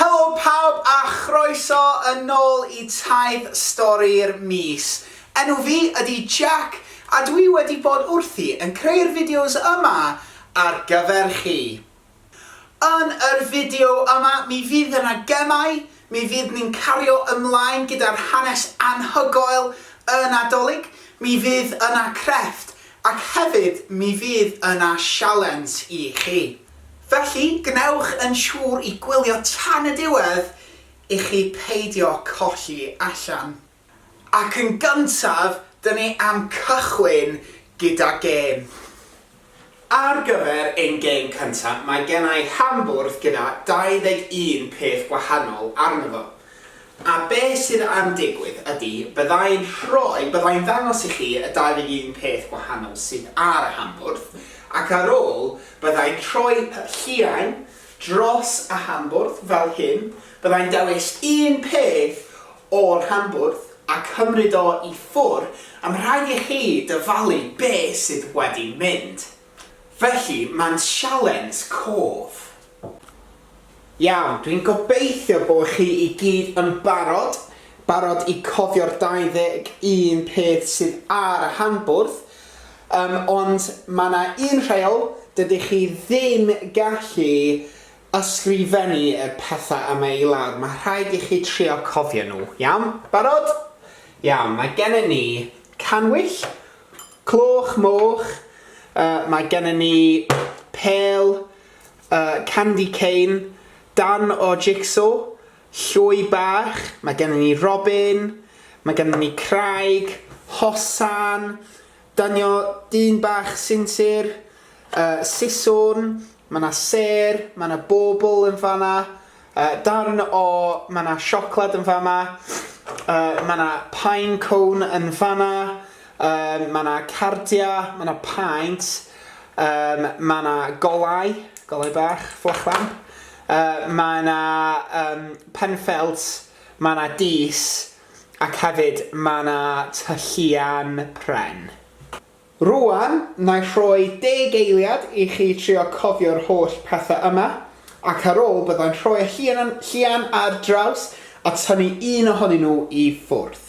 Helo pawb a chroeso yn nôl i Taith Stori'r Mis. Enw fi ydi Jack a dwi wedi bod wrthi yn creu'r fideos yma ar gyfer chi. Yn yr fideo yma mi fydd yna gemau, Mi fydd ni'n cario ymlaen gyda'r hanes anhygoel y Nadolig, mi fydd yna crefft, ac hefyd mi fydd yna sialens i chi. Felly, gwnewch yn siŵr i gwylio tan y diwedd i chi peidio colli allan. Ac yn gyntaf, dyn ni am cychwyn gyda gêm. Ar gyfer ein gêm cyntaf, mae gen i hambwrdd gyda 21 peth gwahanol arno fo. A be sydd am digwydd ydy, bydda i'n rhoi, bydda i'n ddangos i chi y 21 peth gwahanol sydd ar y hambwrdd, ac ar ôl, bydda i'n rhoi lliain dros y Hambwrdd fel hyn, byddai'n dewis un peth o'r Hambwrdd a chymryd o i ffwr, am rhaid i chi dyfalu be sydd wedi mynd. Felly, mae'n sialens cof. Iawn, dwi'n gobeithio bo chi i gyd yn barod, barod i cofio'r 21 peth sydd ar y Hambwrdd, Yym, ond mae 'na un rheol, dydych chi ddim gallu ysgrifennu y pethau yma i lawr, mae rhaid i chi trio cofio nhw, iawn? Barod? Iawn, mae gennym ni cannwyll, cloch moch, yy mae gennym ni pêl, yy candy cane, darn o jigsaw, Llwy Bach, mae gennym ni Robin, mae gennym ni Craig, Hosan, Dynio, Dyn Bach, Sinsir, yy Siswrn, mae 'na Sêr, mae 'na Bobl yn fan'na, yy darn o, mae 'na Siocled yn fama, yy mae 'na Pine Cone yn fan'na, yym mae 'na Cardia, mae 'na Paent, yym mae 'na Golau, Golau Bach, Fflach Lamp. Yy mae 'na yym Penfelt, mae 'na Dees ac hefyd mae 'na Tŷ Llian Pren. Rŵan, na'i rhoi deg eiliad i chi trio cofio'r holl pethau yma, ac ar ôl byddai'n rhoi'r llian ar draws a tynnu un ohonyn nhw i ffwrdd.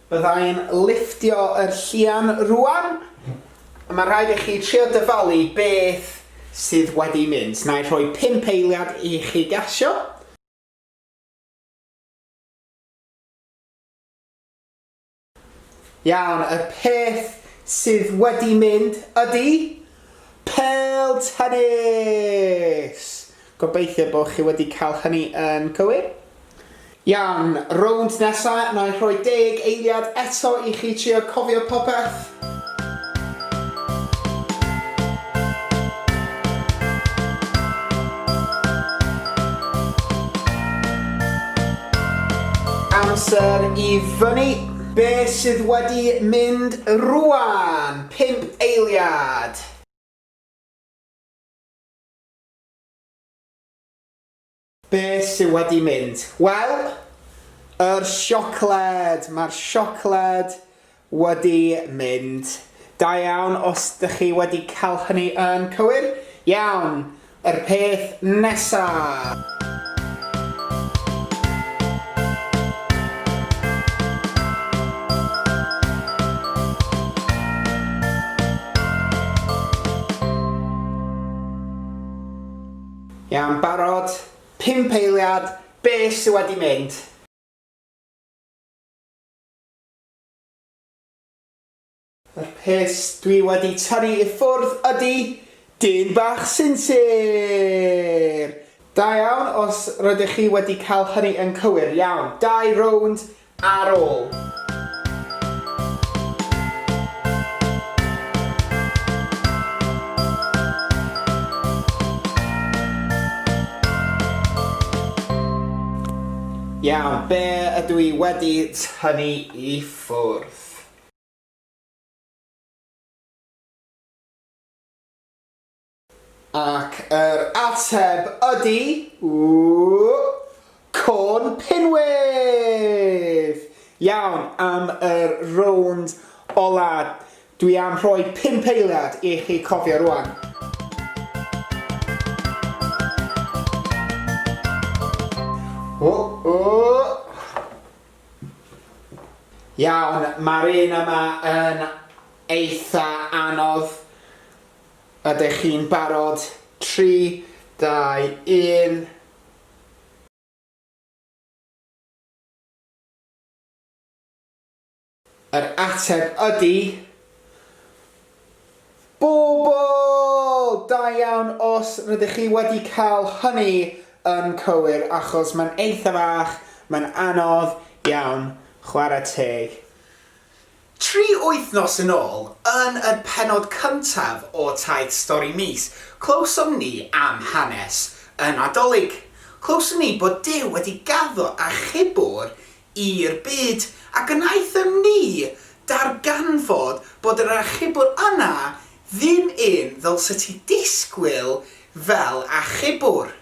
Byddai'n lifftio yr llian rwan. Mae'n rhaid i chi trio dyfalu beth sydd wedi mynd. Nai rhoi pump eiliad i chi gasio. Iawn, y peth sydd wedi mynd ydi pêl tennis! Gobeithio bod chi wedi cael hynny yn cywir. Iawn, rownd nesa, na i rhoi deg eiliad eto i chi trio cofio popeth. Amser i fyny. Be sydd wedi mynd rwan? Pump eiliad. Be sy wedi mynd? Wel, yr siocled! Mae'r siocled wedi mynd. Da iawn os dych chi wedi cael hynny yn cywir. Iawn, yr peth nesa! Iawn, barod? Pump eiliad, be sy wedi mynd? Yr peth dwi wedi tynnu i ffwrdd ydi dyn bach sinsir! Da iawn os rydych chi wedi cael hynny yn cywir. Iawn, dau rownd Ar ôl. Iawn, be ydw i wedi tynnu i ffwrdd? Ac yr ateb ydy, Corn Pinwith! Iawn, am yr rownd ola, dwi am rhoi pump eiliad i chi cofio rwan. Iawn, ma'r un yma yn eitha anodd. Ydych chi'n barod? Tri, dau, un. Yr ateb ydy... Bobl! Da iawn os rydych chi wedi cael hynny yn cywir achos mae'n eitha fach, mae'n anodd iawn, chwarae teg. Tri wythnos yn ôl, yn y pennod cyntaf o Taith Stori Mis, clywsom ni am hanes y Nadolig. Clywsom ni bod Duw wedi gaddo achubwr i'r byd, a gwnaethom ni ddarganfod bod yr achubwr yna ddim un ddylse ti ddisgwyl fel achubwr.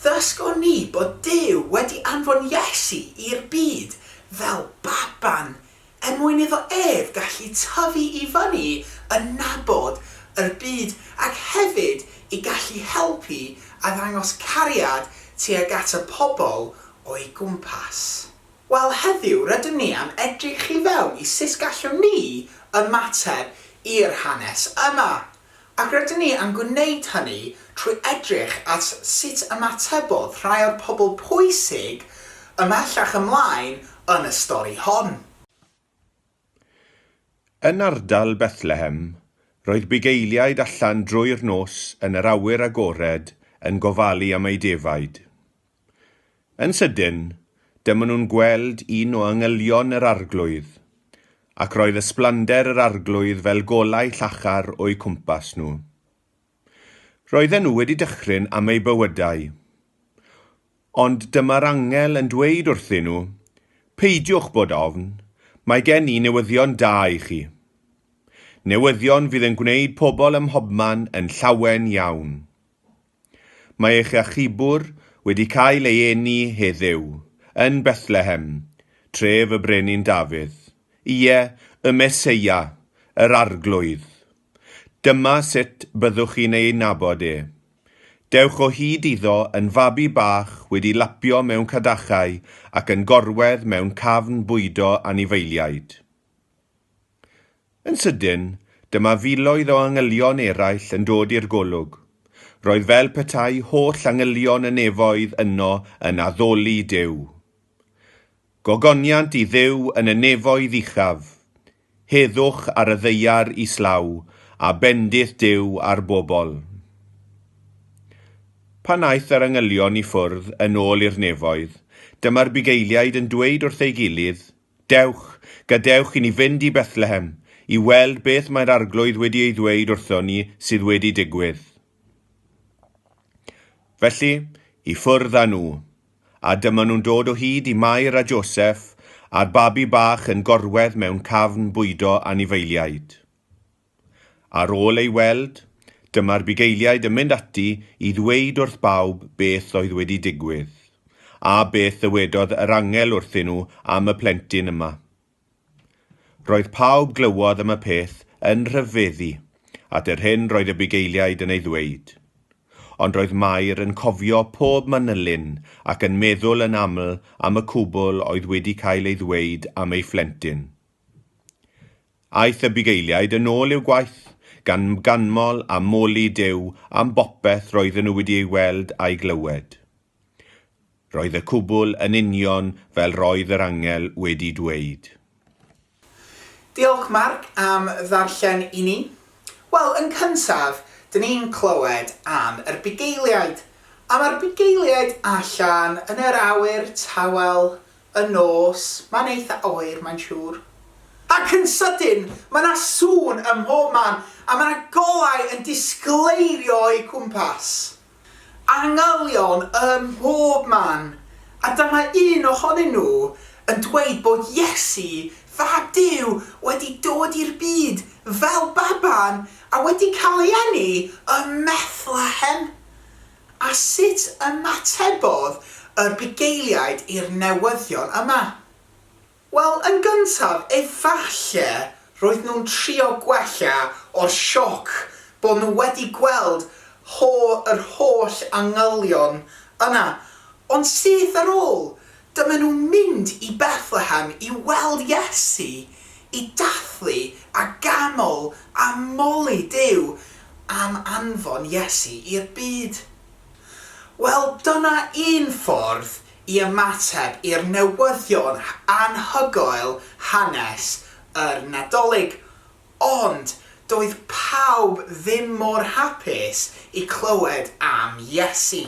Ddysgon ni bod Duw wedi anfon Iesu i'r byd fel baban er mwyn iddo ef gallu tyfu i fyny yn nabod yr byd ac hefyd i gallu helpu a ddangos cariad tuag at y pobl o'i gwmpas. Wel heddiw rydym ni am edrych i fewn i sut gallwn ni ymateb i'r hanes yma. Ac rydyn ni am gwneud hynny trwy edrych at sut ymatebodd rhai o'r pobl pwysig ymhellach ymlaen yn y stori hon. Yn ardal Bethlehem, roedd bugeiliaid allan drwy'r nos yn yr awyr agored yn gofalu am eu defaid. Yn sydyn, dyma nhw'n gweld un o angylion yr Arglwydd, ac roedd ysblander yr Arglwydd fel golau llachar o'u cwmpas nhw. Roedden nhw wedi dychryn am eu bywydau. Ond dyma'r angel yn dweud wrthyn nhw, Peidiwch bod ofn, mae gen i newyddion da i chi. Newyddion fydd yn gwneud pobl ym mhobman yn llawen iawn. Mae eich achubwr wedi cael ei eni heddyw, yn Bethlehem, tref y Brenin Dafydd, ie, y Meseia, yr Arglwydd. Dyma sut byddwch chi'n ei nabod e. Dewch o hyd iddo yn fabi bach wedi lapio mewn cadachau ac yn gorwedd mewn cafn bwydo anifeiliaid. Yn sydyn, dyma filoedd o angylion eraill yn dod i'r golwg. Roedd fel petai holl angylion y nefoedd yno yn addoli Duw. Gogoniant i Dduw yn y nefoedd uchaf. Heddwch ar y ddaear islaw, a bendith Duw ar bobl. Pan aeth yr angylion i ffwrdd yn ôl i'r nefoedd, dyma'r bugeiliaid yn dweud wrth ei gilydd, Dewch, gadewch i ni fynd i Bethlehem, i weld beth mae'r Arglwydd wedi ei ddweud wrthon ni sydd wedi digwydd. Felly, i ffwrdd â nhw. A dyma nhw'n dod o hyd i Mair a Joseph a'r babi bach yn gorwedd mewn cafn bwydo anifeiliaid. Ar ôl ei weld, dyma'r bugeiliaid yn mynd ati i ddweud wrth bawb beth oedd wedi digwydd, a beth ddywedodd yr angel wrthyn nhw am y plentyn yma. Roedd pawb glywodd am y peth yn rhyfeddu at yr hyn roedd y bugeiliaid yn ei ddweud. Ond roedd Mair yn cofio pob manylyn ac yn meddwl yn aml am y cwbl oedd wedi cael ei ddweud am ei phlentyn. Aeth y bugeiliaid yn ôl i'w gwaith, gan ganmol a moli Duw am bopeth roedden nhw wedi ei weld a'i glywed. Roedd y cwbl yn union fel roedd yr angel wedi dweud. Diolch Mark am ddarllen i ni. Wel, yn cyntaf, dyn ni'n clywed am yr bugeiliaid, a mae'r bugeiliaid allan yn yr awyr tawel Y nos, mae'n eitha oer, mae'n siŵr. Ac yn sydyn, mae 'na sŵn ym mhob man, a mae 'na golau yn disgleirio o'u cwmpas. Angylion ym mhob man, a dyma un ohonyn nhw yn dweud bod Iesu, Fab Duw, wedi dod i'r byd fel baban a wedi cael ei eni ym Methlehem. A sut ymatebodd yr bugeiliaid i'r newyddion yma? Wel, yn gyntaf, efalle roedd nhw'n trio gwella o'r sioc bod nhw wedi gweld ho- yr holl angylion yna, ond syth ar ôl Dyma nhw mynd i Bethlehem i weld Iesu, i dathlu a ganol a moli Duw am anfon Iesu i'r byd. Wel, dyna un ffordd i ymateb i'r newyddion anhygoel hanes yr Nadolig. Ond doedd pawb ddim mor hapus i clywed am Iesu.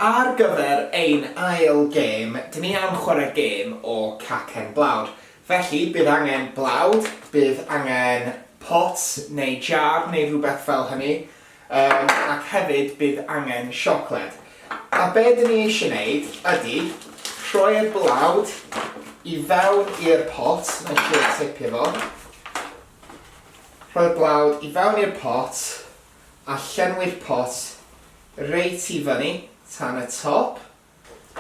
Ar gyfer ein ail gêm, dyn ni am chwarae gêm o cacen blawd. Felly, bydd angen blawd, bydd angen pot neu jar neu rhywbeth fel hynny, yym, ac hefyd bydd angen siocled. A be dyn ni eisiau wneud ydy rhoi'r blawd i fewn i'r pot, wna i trio tipio fo, rhoi'r blawd i fewn i'r pot, a llenwi'r pot reit i fyny tan y top.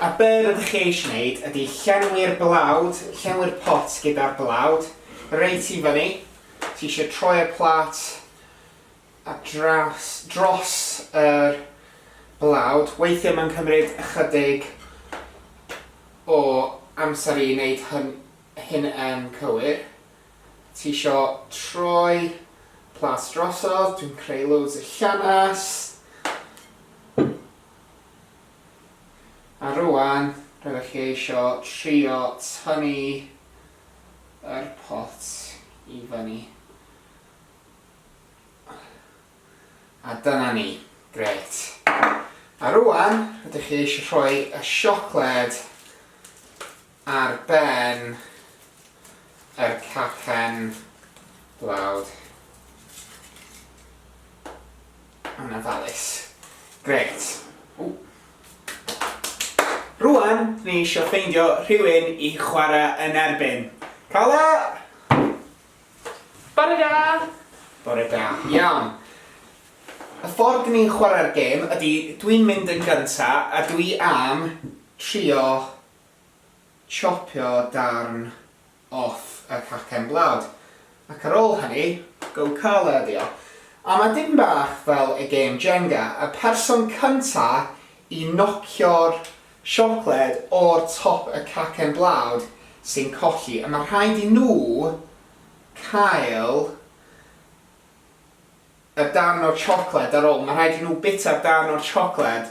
A be' rydych chi eisiau wneud ydy llenwi'r blawd, llenwi'r pot gyda'r blawd reit i fyny. Ti eisiau troi'r plat a draws, dros yr blawd. Weithiau mae'n cymryd ychydig o amser i wneud hyn, hyn yn cywir. Tisho troi plas drosodd? Dwi'n creu loads o llanast. A rwan, rydych chi eisio trio tynnu yr pot i fyny. A dyna ni. Grêt. A rwan, rydych chi eisio rhoi y siocled Ar ben yr cacen blawd yn ofalus. Grêt. Rŵan, ni isio ffeindio rhywun i chwarae yn erbyn. Carla! Bore da! Bore da. Iawn. Y ffordd dyn ni'n chwarae'r gêm ydy dwi'n mynd yn gynta a dwi am trio chopio darn off y cacen blawd, ac ar ôl hynny, go colour ydi o. A mae dipyn bach fel y gêm Jenga, y person cynta i nocio'r siocled o'r top y cacen blawd sy'n colli, a mae rhaid i nhw cael y darn o'r siocled ar ôl, mae rhaid i nhw bita'r darn o'r siocled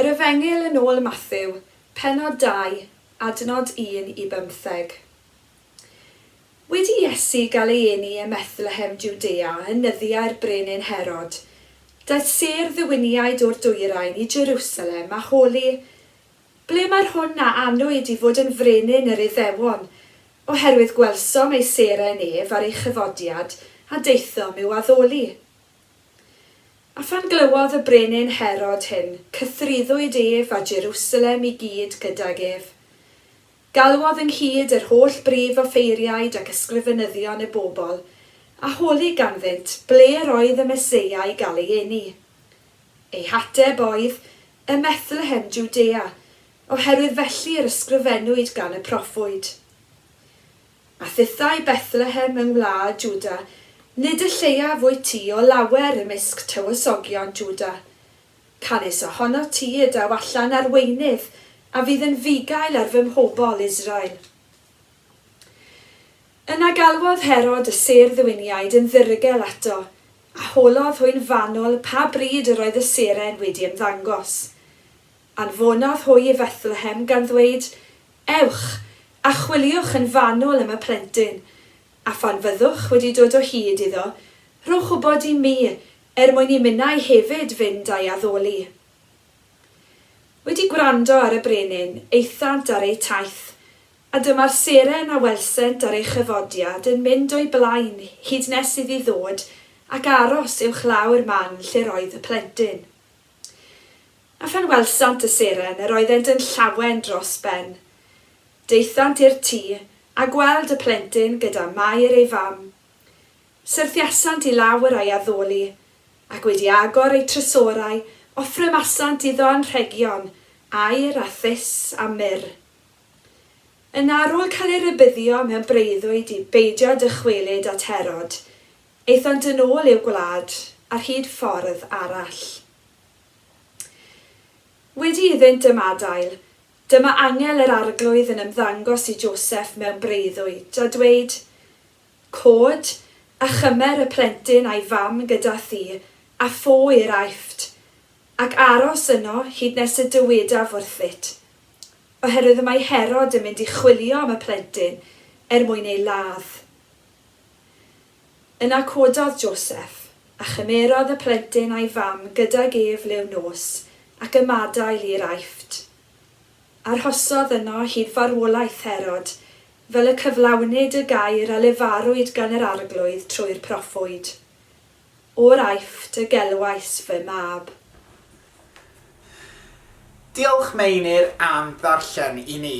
Yr Efengyl yn ôl Mathew, pennod 2, adnod 1 i bymtheg. Wedi i Iesu gael ei eni ym Methlehem Jwdea yn nyddiau'r brenin Herod, daeth sêr ddiwiniaid o'r dwyrain i Jerusalem a holi Ble mae'r hwn a anwyd i fod yn frenin yr Iddewon? Oherwydd gwelsom ei seren ef ar ei chyfodiad, a daethom i'w addoli. A phan glywodd y brenin Herod hyn, cythruddwyd ef a Jerusalem i gyd gydag ef. Galwodd ynghyd yr holl brif offeiriaid ac ysgrifenyddion y bobl, a holi ganddynt ble yr oedd y Meseia i gael ei eni. Eu hateb oedd, Ym Methlehem, Jwdea, oherwydd felly yr ysgrifennwyd gan y proffwyd. A thithau Bethlehem yng ngwlad Jwda, nid y lleiaf wyt ti o lawer ymysg tywysogion Jwda, Canys ohono ti y daw allan arweinydd a fydd yn fugail ar fy mhobl, Israel. Yna galwodd Herod y sêr-ddwuniaid yn ddirgel ato, a holodd hwy'n fanwl pa bryd yr oedd y seren wedi ymddangos. Anfonodd hwy i Fethlehem, gan ddweud, Ewch, a chwiliwch yn fanwl am y plentyn, a phan fyddwch wedi dod o hyd iddo, rhowch wybod i mi, Er mwyn i minnau hefyd fynd a'i addoli. Wedi gwrando ar y brenin, aethant ar eu taith, a dyma'r seren a welsent ar ei chyfodiad yn mynd o'i blaen hyd nes iddi ddod ac aros uwchlaw'r man lle'r oedd y plentyn. A phan welsant y seren, yr oeddent yn llawen dros ben. Daethant i'r tŷ, a gweld y plentyn gyda Mair ei fam. Syrthiasant i lawr a'i addoli, ac wedi agor ei trysorau, offrymasant iddo anrhegion, aur, a thus, a myrr. Yna, ar ôl cael ei rybuddio mewn breuddwyd i beidio dychwelyd at Herod, aethant yn ôl i'w gwlad ar hyd ffordd arall. Wedi iddynt ymadael, dyma angel yr Arglwydd yn ymddangos i Joseff mewn breuddwyd, a dweud, Cod, a chymer y plentyn a'i fam gyda thi, a pho i'r Aifft, ac aros yno hyd nes y dywedaf wrthyt. Oherwydd y mae Herod yn mynd i chwilio am y plentyn, er mwyn ei ladd. Yna cododd Joseff, a chymerodd y plentyn a'i fam gydag ef liw nos, ac ymadael i'r Aifft. Arhosodd yno hyd farwolaeth Herod, fel y cyflawnid y gair a lefarwyd gan yr Arglwydd trwy'r proffwyd, O'r Aifft y gelwais fy Mab. Diolch, Meinir, am ddarllen i ni.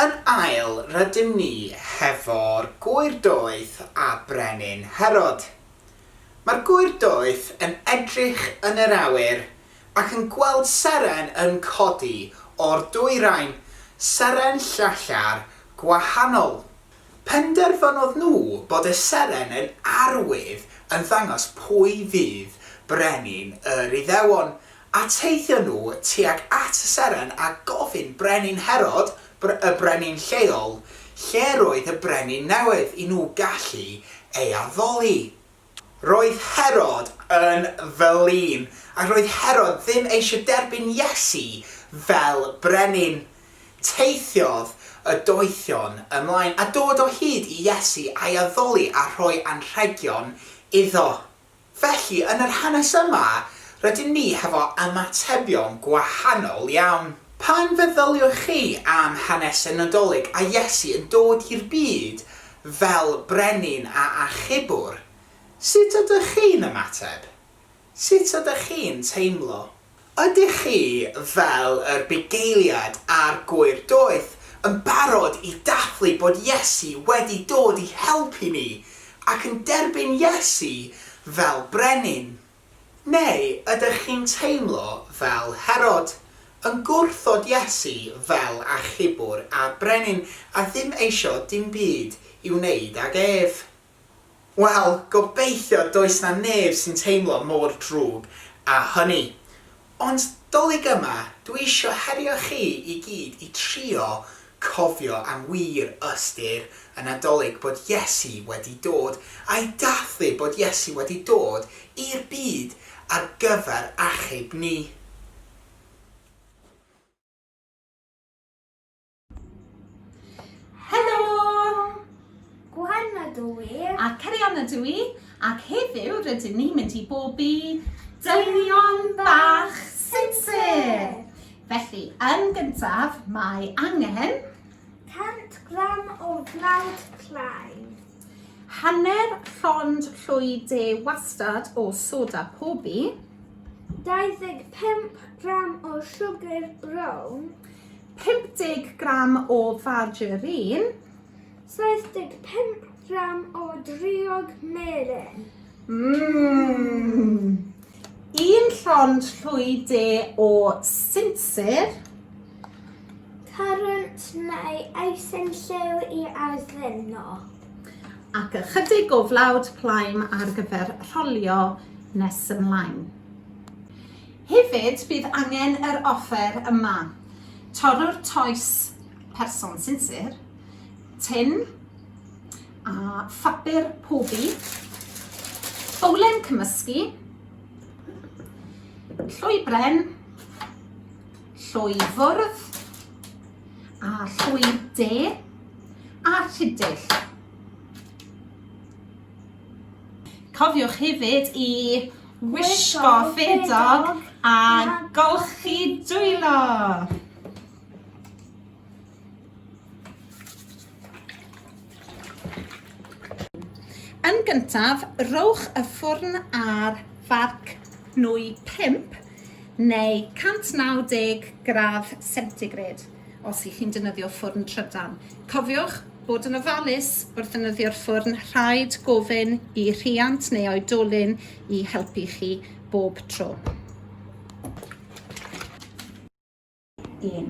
Yn ail, rydym ni hefo'r gŵyr doeth a Brenin Herod. Mae'r gŵyr doeth yn edrych yn yr awyr Ac yn gweld seren yn codi o'r dwyrain, seren llachar gwahanol. Penderfynodd nhw bod y seren yn arwydd yn ddangos pwy fydd brenin yr Iddewon, a teithio nhw tuag at y seren a gofyn Brenin Herod, y brenin lleol, lle roedd y brenin newydd i nhw gallu ei addoli. Roedd Herod yn flin, ac roedd Herod ddim eisiau derbyn Iesu fel brenin. Teithiodd y doethion ymlaen, a dod o hyd i Iesu a'i addoli a rhoi anrhegion iddo. Felly, yn yr hanes yma, rydyn ni hefo ymatebion gwahanol iawn. Pan feddyliwch chi am hanes y Nadolig a Iesu yn dod i'r byd, Fel brenin a achubwr, sut ydych chi'n ymateb? Sut ydych chi'n teimlo? Ydych chi, fel yr bugeiliad a'r gŵyr doeth, yn barod i dathlu bod Iesu wedi dod i helpu ni ac yn derbyn Iesu fel brenin? Neu ydych chi'n teimlo fel Herod, yn gwrthod Iesu fel achubwr a brenin a ddim eisiau dim byd i wneud ag ef? Wel, gobeithio does 'na neb sy'n teimlo mor drwg â hynny. Ond 'Dolig yma, dwi isio herio chi i gyd i trio cofio am wir ystyr y Nadolig bod Iesu wedi dod, a'i dathlu bod Iesu wedi dod i'r byd ar gyfer achub ni. Helo! Gwen ydw i. A Cerian ydw i. Ac heddiw rydyn ni'n mynd i bob i dynion bach sinsir. Felly, yn gyntaf, mae angen... 100 gram o flawd plaen. Hanner llond llwy de wastad o soda pobi. 25 gram o siwgr brown. 50 gram o fargerin. 75 gram o driog melyn. Mmm! Un llond llwy de o sinsir. Currant neu eisen llew i addeno. Ac ychydig o flawd plaen ar gyfer rholio nes ymlaen. Hefyd, bydd angen yr offer yma, torrwr toes person sinsir, tin a phapur pobi, bowlen cymysgu, llwy bren, llwy fwrdd a llwy de a rhidill. Cofiwch hefyd i wisgo ffedog a golchi dwylo! Yn gyntaf, rhowch y ffwrn ar farc nwy 5 neu 190 gradd centigrade os 'y chi'n defnyddio ffwrn trydan. Cofiwch Bod yn ofalus wrth ddefnyddio'r ffwrn, rhaid gofyn i rhiant neu oedolyn i helpu chi bob tro. 1.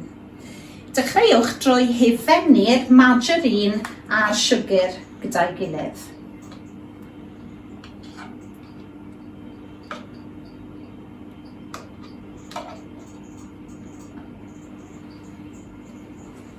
Dechreuwch drwy hufennu'r margarine a'r siwgr gyda'i gilydd.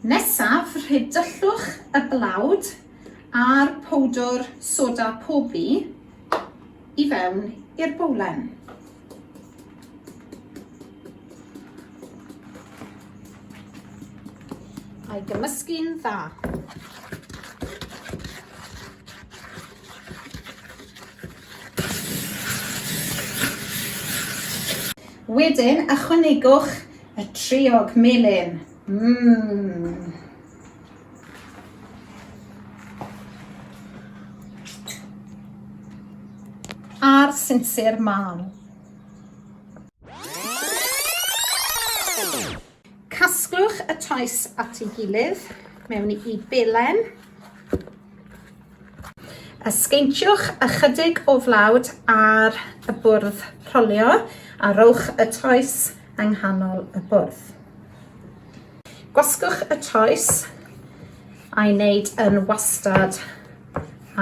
Nesaf, rhydyllwch y blawd a'r powdwr soda pobi i fewn i'r bowlen. A'i gymysgu'n dda. Wedyn, ychwanegwch Y triog melyn. Mmm. A'r sinsir man. Casglwch y toes at ei gilydd mewn i belen. A sgeintiwch ychydig o flawd ar y bwrdd rholio a rhowch y toes yng nghanol y bwrdd. Gwasgwch y toes a'i wneud yn wastad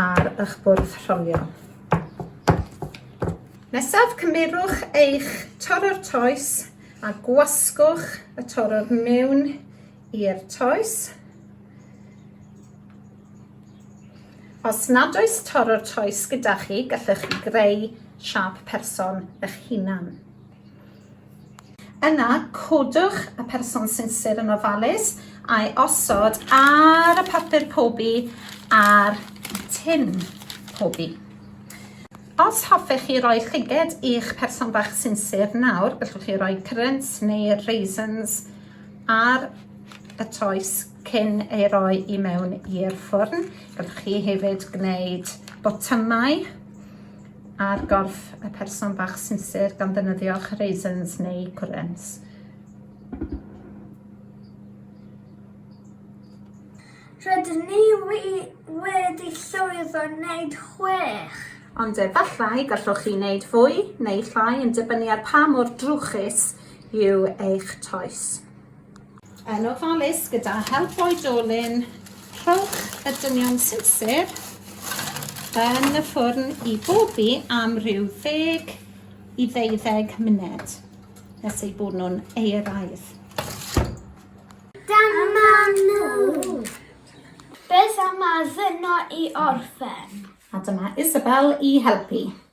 ar eich bwrdd rholio. Nesaf, cymerwch eich torrwr toes a gwasgwch y torrwr mewn i'r toes. Os nad oes tor o'r toes gyda chi, gallwch chi greu siap person eich hunan. Yna, codwch y person sinsir yn ofalus a'i osod ar y papur pobi a'r tin pobi. Os hoffech chi roi llyged i'ch person bach sinsir nawr, gallwch chi roi currants neu raisins ar y toes cyn ei roi i mewn i'r ffwrn. Gallwch chi hefyd gwneud botymau ar gorff y person bach sinsir gan ddefnyddio'ch raisins neu gwrens. Rydyn ni wedi llwyddo wneud chwech. Ond efallai gallwch chi wneud fwy neu llai yn dibynnu ar pa mor drwchus yw eich toes. Yn ofalus gyda help oedolyn, rhowch y dynion sinsir yn y ffwrn i bobi am rhyw ddeg i ddeuddeg myned nes eu bod nhw'n eiraidd. Dyma nhw! Beth am addurno i orffen? A dyma Isabel i helpu.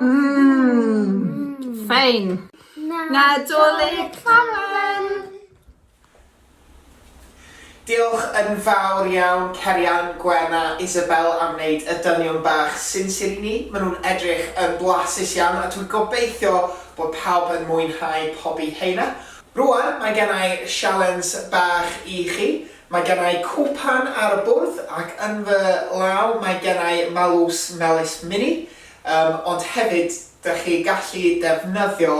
Mmm, fein. Nadolig Ffarwel! Diolch yn fawr iawn Cerian, Gwenna, Isabel am wneud y dynion bach sinsir i ni. Maen nhw'n edrych yn blasus iawn a dwi'n gobeithio bod pawb yn mwynhau pobi heina. Rwan mae gennai sialens bach i chi. Mae gen i cwpan ar y bwrdd ac yn fy law mae gen i malws melys mini, yym ond hefyd dych chi gallu defnyddio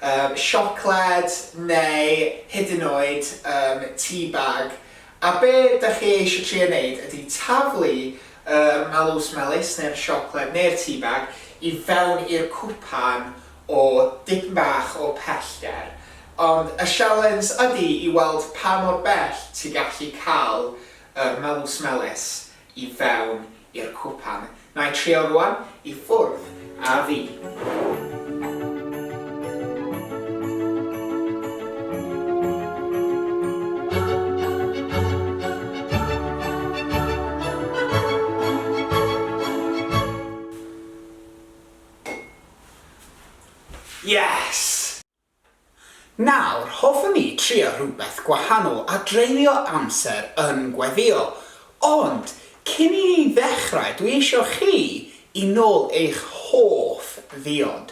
yym siocled neu hyd yn oed yym tea bag a be dych chi eisiau trio wneud ydy taflu yr malws melys neu'r siocled neu'r tea bag i fewn i'r cwpan o dipyn bach o pellter, ond y sialens ydi i weld pa mor bell ti gallu cael yr melws melys i fewn i'r cwpan. Na'i trio rwan, i ffwrdd a fi. Yes! Nawr, hoffwn i trio rhywbeth gwahanol a dreulio amser yn gweddïo. Ond, cyn i ni ddechrau, dwi eisiau chi i nôl eich hoff ddiod.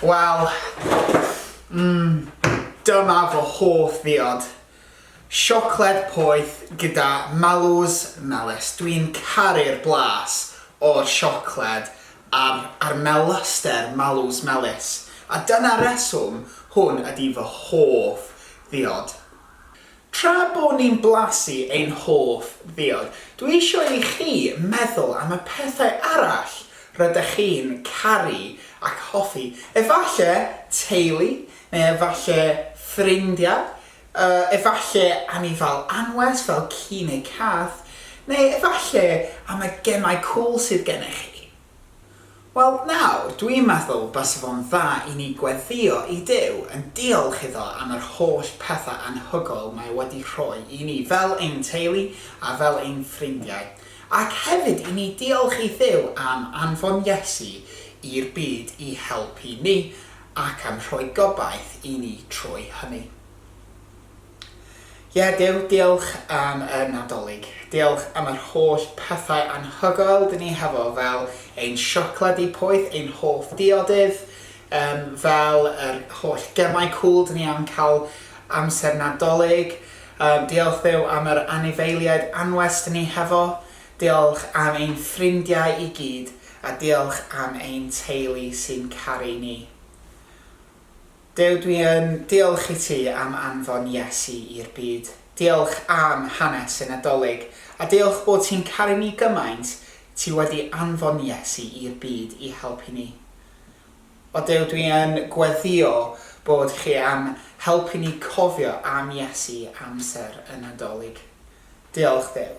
Wel, mm, dyma fy hoff ddiod. Siocled poeth gyda malws melys. Dwi'n caru'r blas o'r siocled a'r, a'r melaster malws melys. A dyna'r reswm hwn ydi fy hoff ddiod. Tra bo ni'n blasu ein hoff ddiod, dwi eisiau i chi meddwl am y pethau arall rydych chi'n caru ac hoffi. Efallai teulu, neu efallai ffrindiau, efallai anifail anwes fel ci neu cath, neu efallai am y gemau cŵl sydd gennych chi. Wel, nawr, dwi'n meddwl base fo'n dda i ni gweddïo i Duw yn diolch iddo am yr holl pethau anhygoel mae wedi rhoi i ni fel ein teulu a fel ein ffrindiau, ac hefyd i ni diolch i Dduw am anfon Iesu i'r byd i helpu ni ac am rhoi gobaith i ni trwy hynny. Ie, Duw, diolch am y Nadolig. Diolch am yr holl pethau anhygoel dyn ni hefo, fel ein siocled di poeth, ein hoff diodydd, um, fel yr holl gemau cŵl dyn ni am cael amser Nadolig. Um, diolch Dduw am yr anifeiliaid anwes dyn ni hefo. Diolch am ein ffrindiau i gyd, a diolch am ein teulu sy'n caru ni. Duw dwi yn diolch i ti am anfon Iesu i'r byd, diolch am hanes y Nadolig, a diolch bod ti'n caru ni gymaint, ti wedi anfon Iesu i'r byd i helpu ni. O Duw dwi yn gweddio bod chi am helpu ni cofio am Iesu amser y Nadolig. Diolch Duw.